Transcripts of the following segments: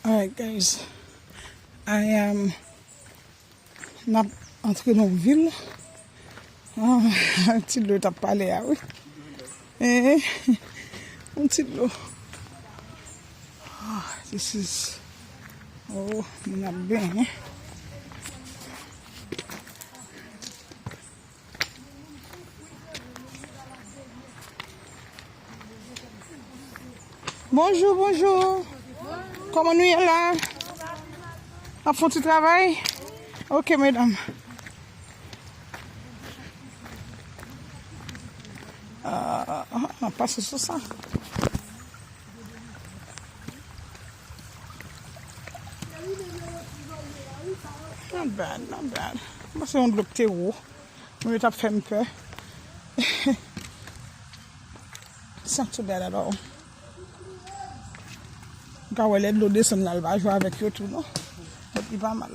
Alright guys, I am nap antre nan yon vil, an ti dlo tap pale a wi, an ti dlo, this is, oh moun ap benyen. Bonjou, bonjou. Koman nou ye la? Ap fon ti travay? Ok, medam. An, ah, ah, ah, pase sou sa. Not bad, not bad. Mwen panse yon dlo k te wo. Mwen yo tap fèm pè. It's not too bad at all. Mwen ka wè lè dlo desann la l pa jwe avèk yo tou non. But li pa mal.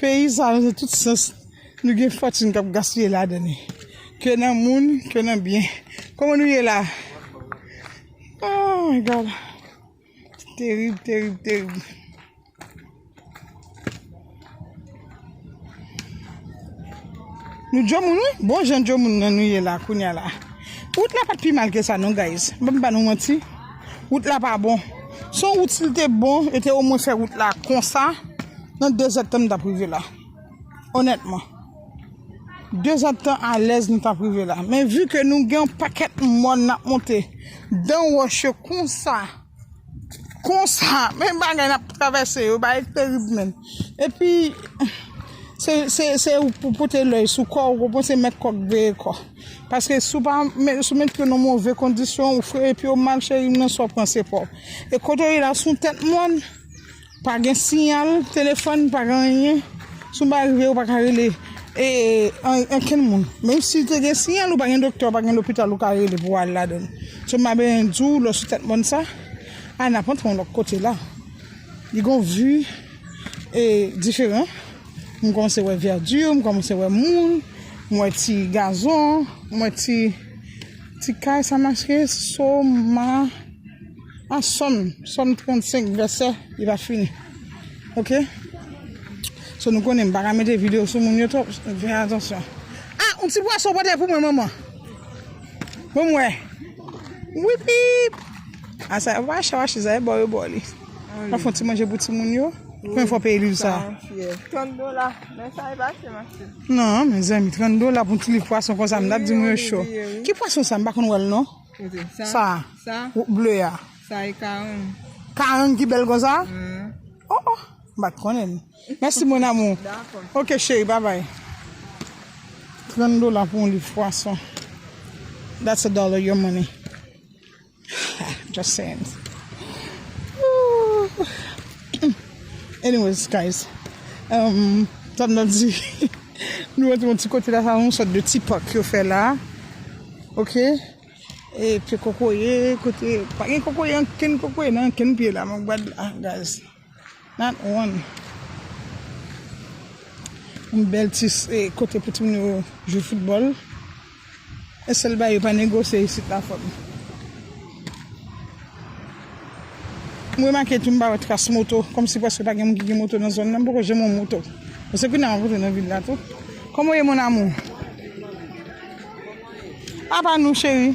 Peyi sa nan tout sans nou gen fòtune kap gaspiye ladan li ke nan moun ke nan byen kòman nou ye la ooh my God terib terib terib. Nou djomoun wi bon jan djomoun nan nou ye la kounya la wout la pat pi mal ke sa non guys m pap ba nou manti wout la pa bon son wout sil te bon yo te omwen fè wout la konsa. Nan 2 zèdtan nou tap rive la. Onètman. 2 zèdtan alèz nou tap rive la. Men vu ke nou gen yon pakèt mòn nap monte. Dan wòch yo konsa. Konsa. Men bagay nap travèse yo. Bagay terib men. Epi. Se ou pou pote lèy sou kò. Ou konprann se mèt kò k veye kò. Paske si ou pa met yo nan move kondisyon. Ou freye pye ou mal cheri m nan sa w pran se pa w. E kote w ye la se yon tèt mòn. Pa gen siyal telefòn, pa gen anyen. Si w pa rive, ou pa ka rele ankenn moun. Menm si te gen siyal, ou pa gen doktè, ou pa gen lopital ou ka rele pou al ladan. So m pa bezwen di w lè w sou tèt mòn sa, a n ap antre yon lòt kote la. Li gen yon vi diferan. M kòmanse wè vèdi, m kòmanse wè moun, m wè ti gazon, m wè ti kay sa maske, so ma. An sòm, sòm 35 vèsè li pa fini ok so nou konnen m paka mete video sou moun yo twòp fè atansyon ah on ti pwason pote pou mwen manman pou m wè wipip ah sa wap achte wap achte sa e bò yo bò li wap fè on ti manje pou ti moun yo konbyen fwa w peye liv sa 30 dola men sa e pa ase ma cheri nan mezanmi 30 dola pou on ti liv pwason konsa m tap di moun yo cho ki pwason sa m pa konn wè l non. Sa ble a. Sa e karang. Karang ki bel konsa? Oh oh. M pat konnen. Mèsi mon amour. Ok cheri bye bye. 30 dola pou yon liv pwason. That's a dollar your money. Just saying. Anyways guys. Sa m ta di. Nou antre yon ti kote la sa yon sòt de ti park yo fè la ok e pye kokoye kote pa gen kokoye ankenn kokoye nan ankenn pye la men gad la guys not one yon bèl ti kote pou timoun yo jwe football. E sel bagay yo pa negosye isit la fòm. M remake tou m pa wè tras moto, kòmsi prèske pa gen moun ki gen moto nan zòn nan, m poko janm wè yon moto. Bon se kounya m ap antre nan vil la tou. Kòman w ye mon amour? A pa nou cheri.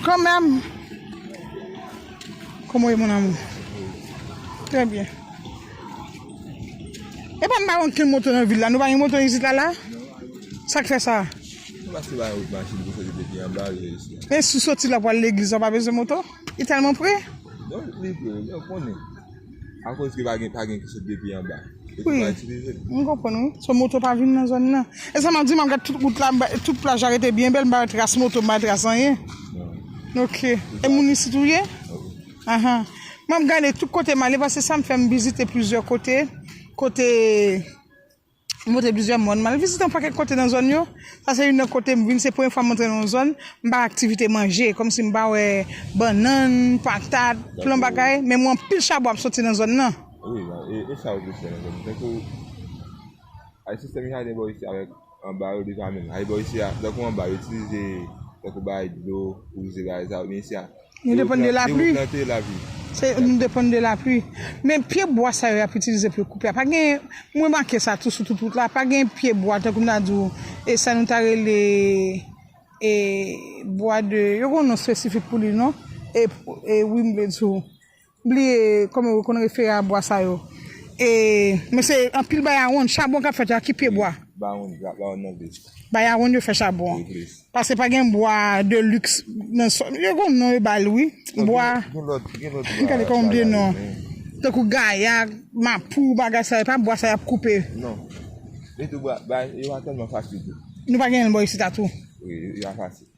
Kanmèm. Kòman w ye mon amour? Trè byen. E pa n pa wè ankenn moto nan vil la, nou pa gen moto isit la la? Sak fè sa? Ou pase bay rout machin pou soti depi anba rive jis la. E sou soti la pou al legliz la ou pa bezwen moto? Li tèlman pre? Non li pre men ou konnen. Akoz ke pa gen pa gen ki sot depi anba. E ki pa itilize l. M konprann wi. So moto pa vin nan zòn nan. E sa map di map gad tout wout la tout plaj la rete byen bèl m pa wè tras moto m pa wè tras anyen. Non. Ok. E moun isit ou ye? Wi. Aha. Map gade tout kote m ale paske sa m fè m vizite plizyè kote. Kote. M montre plizyè mòn. M al vizite yon pakèt kote nan zòn yo. Sa se youn nan kote m vin se premye fwa m antre nan yon zòn, m pa wè aktivite manje, kòmsi m pa wè bannann, patat, plan bagay, men m wè anpil chabon ap soti nan zòn nan. Wi, e sa yo plis fè nan zòn nan. Tankou, ak sistèm yo jadè bò isi a, avèk anba yo deja menm. Anba bò isi a, tankou anba yo itilize tankou bagay dlo pou zera e sa yo, men isi a. Nou depann de lapli. Nou depann de lapli. Men pye bwa sa yo y ap itilize pou yo koupe a, pa gen, m remake sa tou sou tout wout la, pa gen pye bwa tankou m ta di w, e sa nou ta rele e bwa de, yo gen yon non espesifik pou li non, e wi m vle di w. Bliye kòman yo konn refere a bwa sa yo. E men se anpil bayaronn, chabon k ap fèt yo ak ki pye bwa? Baronne, la baronne nan vle di. Bayaronn yo fè chabon an. Vle di. Pase pa gen bwa de lux nan sò. Yo gen yon non yo ba l wi. Bwa. Gen lòt, gen lòt bwa. M gade kòman m bliye non an. Tankou gaya, mapou, bagay sa yo. E pa bwa sa y ap koupe. Non. E tou bwa, bwa yo pa tèlman fasil tou. Nou pa gen l bò isit a tou? Wi, yo pa fasil.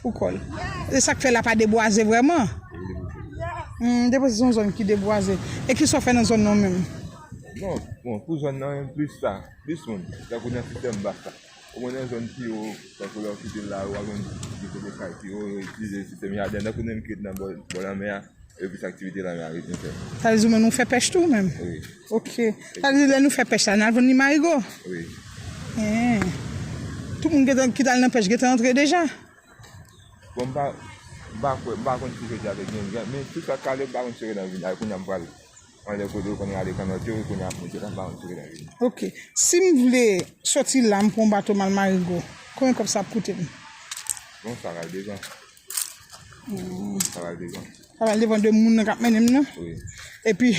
Pou kòl. E sak fè la pa debwaze vrèman? Humm depo se son zòn ki debwaze. E kisa ou fè nan zòn nan ou menm? Non bon pou zòn nan plis sa, plis moun tankou nan sitèm bas la. Ou mwen nan zòn pi wo tankou lè ou kite la ou al jwenn kote kay pi wo yo itilize sitèm jaden tankou menm ki ret nan bò lanmè a. Yo plis aktivite la nan ritm fè. Sa vle di menm nou fè pèch tou menm? Wi. Ok. Sa vle di lè nou fè pèch la, n al vann li marigo? Wi. Eehh. Tout moun gentan ki t al nan pèch gentan antre deja? Bon m pa, m pa kwè, m pa konn si jodi a te gen gen, men tout sa k ale m pa konn si yo gentan vin. A kounye a m pral anlè kote yo konn rale kannòt yo, kounye a ap monte la, m pa konn si yo gentan vin. Ok. Si m vle soti la m pran yon bato m al marigo, konbyen kòb sa ap koute m? Bon sa k al devan. Sa va l devan. Sa va l devan de moun nan k ap mennen m nan. Wi. Epi,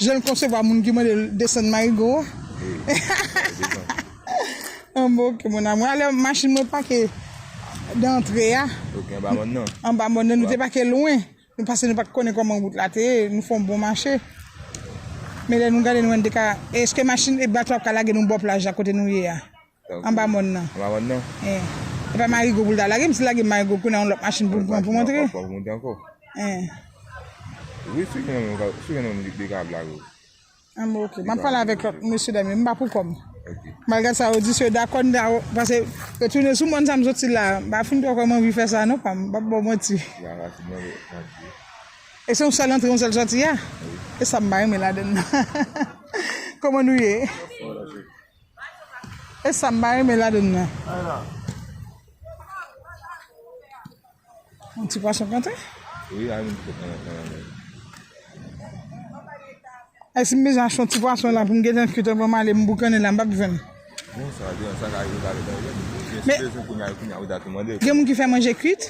jan l konsevwa moun ki mande l desann marigo a. Wi. Sa va l devan. An bon oke mon amou. Alò, machin mwen pake dan antre a. Ok, anba mòn nan. Anba mòn nan. Nou te pake lwen. Nou pase nou pa t konnen kòman wout la te ye. Nou fè yon bon mache. Men lè nou gade nou wè n te ka. Eske machin e bato a ap ka lage nou bò plaj la kote nou ye a? Anba mòn nan. Anba mòn nan. Eh. E pa Marigo pou l ta lage. M si l lage Marigo kounye a yon lòt machin pou m pran pou m antre. Pou m antre ankò. Eh. Wi si gen yon moun, si gen yon moun li ka ap lage ou. An bon ok. M ap pale avèk lòt mesye dam yo. M pa pou kò m. Ok. M al gad sa yo di si yo dakò n ta pase retounen sou mòn sa m soti la a. M pa fin twò kwè m anvi fè sa non pa m. M pap ba w manti. Ba fasil non e pa di. E se yon sèl antre yon sèl sòti a? Wi. E sa m pa renmen ladann nan. Kòman nou ye? Anba mòn nan. E sam pa renmen ladann nan. Yon ti pwason kantre. E si m bezwen achte yon ti pwason la pou m gentan kit anvan m ale m boukannen la m pap jwenn. Gen moun ki fè manje kwit?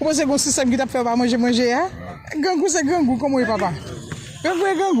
Ou panse gon sisèm ki tap fè w pa manje manje a? Grangou se grangou komanw ye papa? Grangou e grangou.